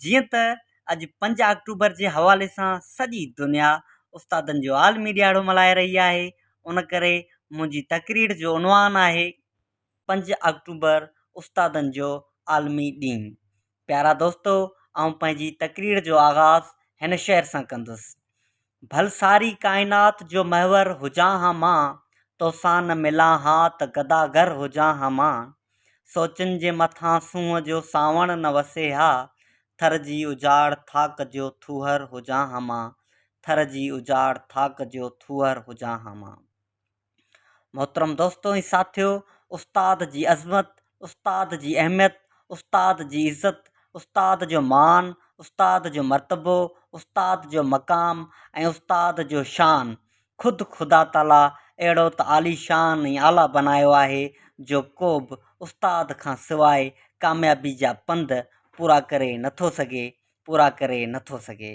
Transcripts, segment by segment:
جيئن ته اڄ پنج آڪٽوبر جي حوالي سان سڄي دنيا استادن جو عالمي ڏياڙو ملهائي رهي آهي ان ڪري منهنجي تقرير جو عنوان آهي پنج آڪٽوبر استادن جو عالمي ڏينهن پيارا دوستو آئون پنهنجي تقرير جو آغاز هن شعر سان ڪندس ڀل ساري ڪائنات جو محور هجان ها مان، توسان نه ملان ها ته گداگر هجان ها مان، سوچن جي مٿان سونهن جو سانوڻ نه وسي ها، ٿر جي اجاڙ ٿاڪ جو ٿوهر هجان ها مان، ٿر جي اجاڙ ٿاڪ جو ٿوهر هجان ها مان. محترم دوستو ۽ ساٿيو استاد جي عظمت استاد جي اهميت استاد جي عزت استاد جو مان استاد جو مرتبو استاد جو مقام ۽ استاد جو شان خود خدا تعاليٰ اهڙو ته عالي شان ۽ اعليٰ بنايو آهي جو ڪو به استاد کان سواء ڪاميابي جا پنڌ پورا ڪري نٿو سگهي پورا ڪري نٿو سگهي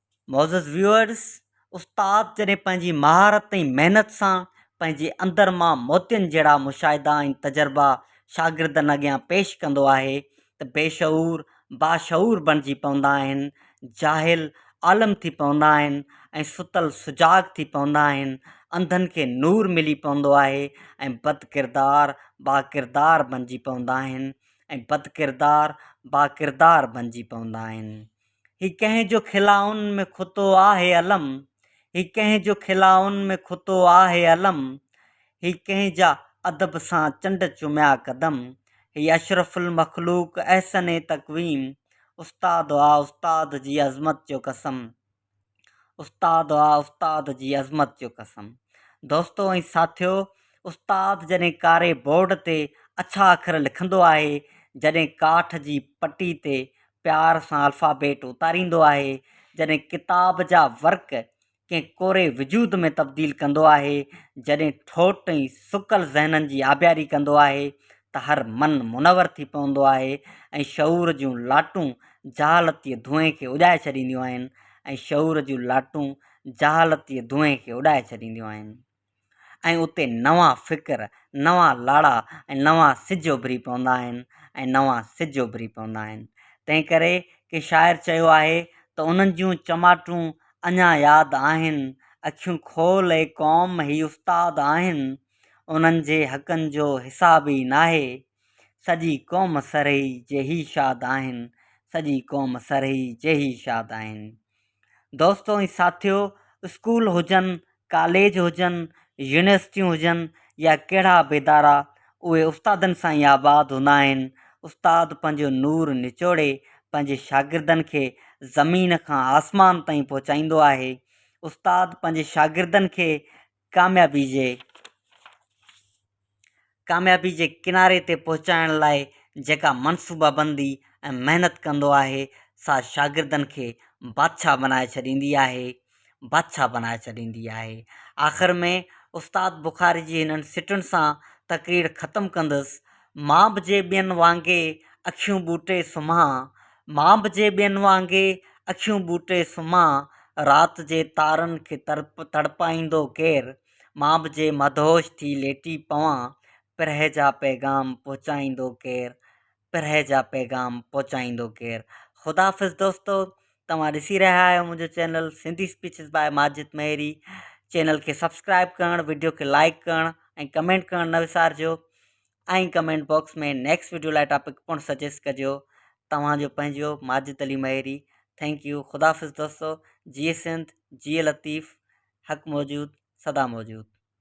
معزز ويوئرز استاد جڏهن پنهنجي مهارت ۽ محنت سان پنهنجي اندر مان موتين جهڙا مشاهدا ۽ تجربا شاگردن اڳيان پيش ڪندو آهي ته بيشعور باشعور بڻجي پوندا آهن جاهل عالم ٿي پوندا آهن ۽ ستل سجاڳ ٿي پوندا آهن انڌن کي نور ملي پوندو آهي ۽ بدڪردار باڪردار بڻجي پوندا آهن ۽ بدڪردار باڪردار بڻجي پوندا آهن هي ڪنهن جو خلائن ۾ کتو آهي علم هي ڪنهن جو خلائن ۾ کتو آهي علم هي ڪنهن جا ادب سان چنڊ چميا قدم هي اشرف المخلوق احسن تقويم استاد آ استاد جي عظمت جو قسم. استاد آ استاد جي عظمت جو قسم. دوستو ۽ ساٿيو استاد جڏهن ڪاري بورڊ تي اڇا اکر لکندو آهي جڏهن ڪاٺ جي پٽي تي پيار سان الفابيٽ اتاريندو آهي جڏهن ڪتاب جا ورق ڪنهن ڪوري وجود ۾ تبديل ڪندو آهي جڏهن ٺوٽ ۽ سڪل ذهنن جي آبياري ڪندو آهي ته هر من منور ٿي پوندو آهي ۽ شعور جون لاٽون جهالتيء ڌوئين کي اجائي ڇڏينديون آهن ۽ شعور جون لاٽون جهالتيء ڌوئين کي اڏائي ڇڏينديون آهن ۽ اتي نوان فڪر، نوان لاڙا ۽ نوان سج اڀري پوندا آهن ۽ نوان سج اڀري پوندا آهن. تنهن ڪري ڪنهن شاعر چيو آهي ته انهن جون چماٽون اڃا ياد آهن، اکيون کول اي قوم هي استاد آهن. انهن جي حقن جو حساب ئي ناهي. سڄي قوم سرهي جيهي شاد آهن سڄي قوم سرهي جيهي شاد آهن. دوستو ۽ ساٿيو اسڪول هجن ڪاليج هجن يونيورسٽيون هجن يا ڪهڙا به ادارا اهي استادن سان ئي آباد هوندا آهن. استاد پنهنجو نور نچوڙي پنهنجي شاگردن کي زمين کان آسمان تائين پهچائيندو آهي. استاد پنهنجي شاگردن کي ڪاميابي جي ڪاميابي جي ڪناري تي پهچائڻ لاء جيڪا منصوبه بندي ۽ محنت ڪندو آهي سا شاگردن کي بادشاهه بنائي ڇڏيندي آهي بادشاهه بنائي ڇڏيندي آهي آخر ۾ استاد بخاري جي هنن سٽن سان تقرير ختم ڪندس مان به جي ٻين وانگي اکيون ٻوٽي سمهان مان به جي ٻين وانگي اکيون ٻوٽي سمهان رات جي تارن کي تڙپ تڙپائيندو ڪير مان به جي مدهوش ٿي ليٽي پوان پرهه جا پيغام پهچائيندو ڪير پرهه جا پيغام پهچائيندو ڪير خداحافظ دوستو توهان ڏسي رهيا آهيو منهنجو channel Sindhi speeches by Majid Maheri channel کي سبسڪرائب ڪرڻ وڊيو کي لائڪ ڪرڻ ۽ ڪمينٽ ڪرڻ نه وسارجو ۽ ڪمينٽ باڪس ۾ نيڪسٽ وڊيو لاء ٽاپڪ پڻ سجيسٽ ڪجو توهان جو پنهنجو ماجد علي مهيري ٿينڪ يو خدا حافظ دوستو جي سنڌ جي لطيف حق موجود سدا موجود